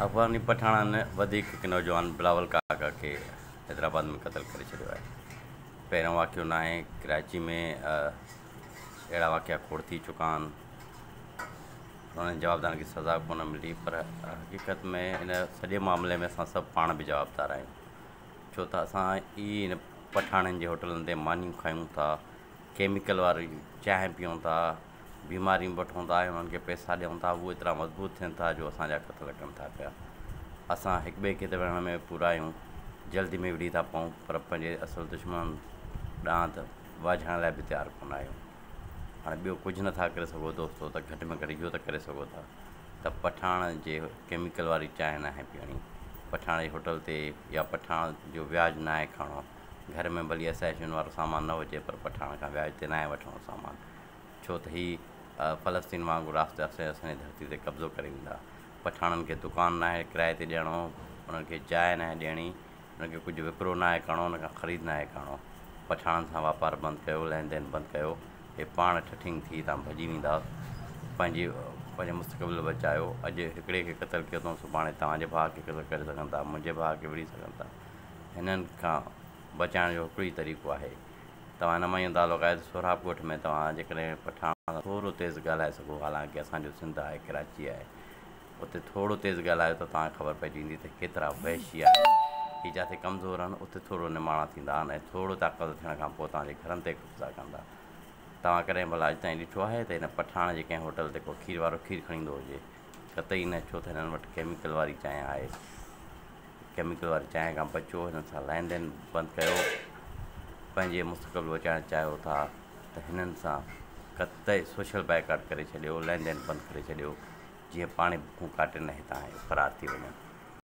افغاني پٺاڻن وڌيڪ هڪ نوجوان بلاول ڪاڪا کي حيدرآباد ۾ قتل ڪري ڇڏيو آهي. پهريون واقعو ناهي، ڪراچي ۾ اهڙا واقعا کوڙ ٿي چڪا آهن. انهن جوابدارن کي سزا ڪونه ملي پر حقيقت ۾ ان سڄي معاملي ۾ اسان سڀ پاڻ به جوابدار آهيون. ڇو ته اسان ئي ان پٺاڻن جي هوٽلن تي مانيون کائون ٿا، ڪيميڪل واري چانهه پيئون ٿا، بيمارين به وٺون ٿا ۽ انهن کي پئسا ڏيون ٿا هو ايترا مضبوط ٿين ٿا جو اسان جا ڪٿ لڪن ٿا پيا. اسان هڪ ٻئي کي ته وڙهڻ ۾ پورا آهيون، جلدي ۾ وڙهي ٿا پئون پر پنهنجي اصل دشمنن ڏانهن ته واجهائڻ لاء به تيار ڪونه آهيون. هاڻي ٻيو ڪجهه نه ٿا ڪري سگهو دوستو ته گهٽ ۾ گهٽ اهو ته ڪري سگهو ٿا ته پٺاڻ جي ڪيميڪل واري چانهه ناهي پيئڻي، پٺاڻ جي هوٽل تي يا پٺاڻ جو وياج ناهي کڻڻو، گهر ۾ ڀلي اسياشن وارو سامان نه هجي پر پٺاڻ کان وياج تي ناهي وٺڻو سامان. ڇو ته هي فلسطين وانگر آهستي آهستي اسان جي ڌرتي تي قبضو ڪري ويندا. پٺاڻن کي دڪان ناهي ڪرائي تي ڏيڻو، انهن کي جاء ناهي ڏيڻي، انهن کي ڪجهه وڪرو ناهي ڪرڻو، انهن کان خريد ناهي ڪرڻو. پٺاڻن سان واپار بند ڪيو، لين دين بند ڪيو، هي پاڻ ٺٺينگ ٿي هتان ڀڄي ويندا. پنهنجي پنهنجو مستقبل بچايو. اڄ هڪڙي کي قتل ڪيو اٿئون، سڀاڻي توهان جي ڀاء کي قتل ڪري سگهن ٿا، منهنجي ڀاء کي وڙهي سگهن ٿا. هنن کان بچائڻ جو هڪڙو ئي طريقو آهي. توهان هن مهيون تعلق آهي ته سهراب ڳوٺ ۾ توهان جيڪڏهن پٺاڻ سان ٿورو تيز ڳالهائي سگهو حالانڪه اسان جو سنڌ آهي ڪراچي آهي اتي ٿورو تيز ڳالهايو ته توهان کي خبر پئجي ويندي ته ڪيترا وحشي آهن هي جاٿي ڪمزور آهن اتي ٿورو نماڻا ٿيندا آهن ۽ ٿورو طاقتور ٿيڻ کان پوء توهان جي گهرن تي قبضا ڪندا توهان ڪڏهن ڀلا اڄ تائين ڏٺو آهي ته هن پٺاڻ جي ڪنهن هوٽل تي ڪو کير وارو کير کڻي ايندو هجي قطعي نه ڇو ته هنن وٽ ڪيميڪل واري چانهه آهي ڪيميڪل واري چانهه کان بچو، هنن سان لين دين بند ڪيو، پنهنجي مستقبل بچائڻ چاهيو ٿا ته هنن سان قطعي سوشل بائيڪاٽ ڪري ڇڏيو، لين دين بند ڪري ڇڏيو، جيئن پاڻي بکون ڪاٽي نه هتان فرار ٿي وڃن.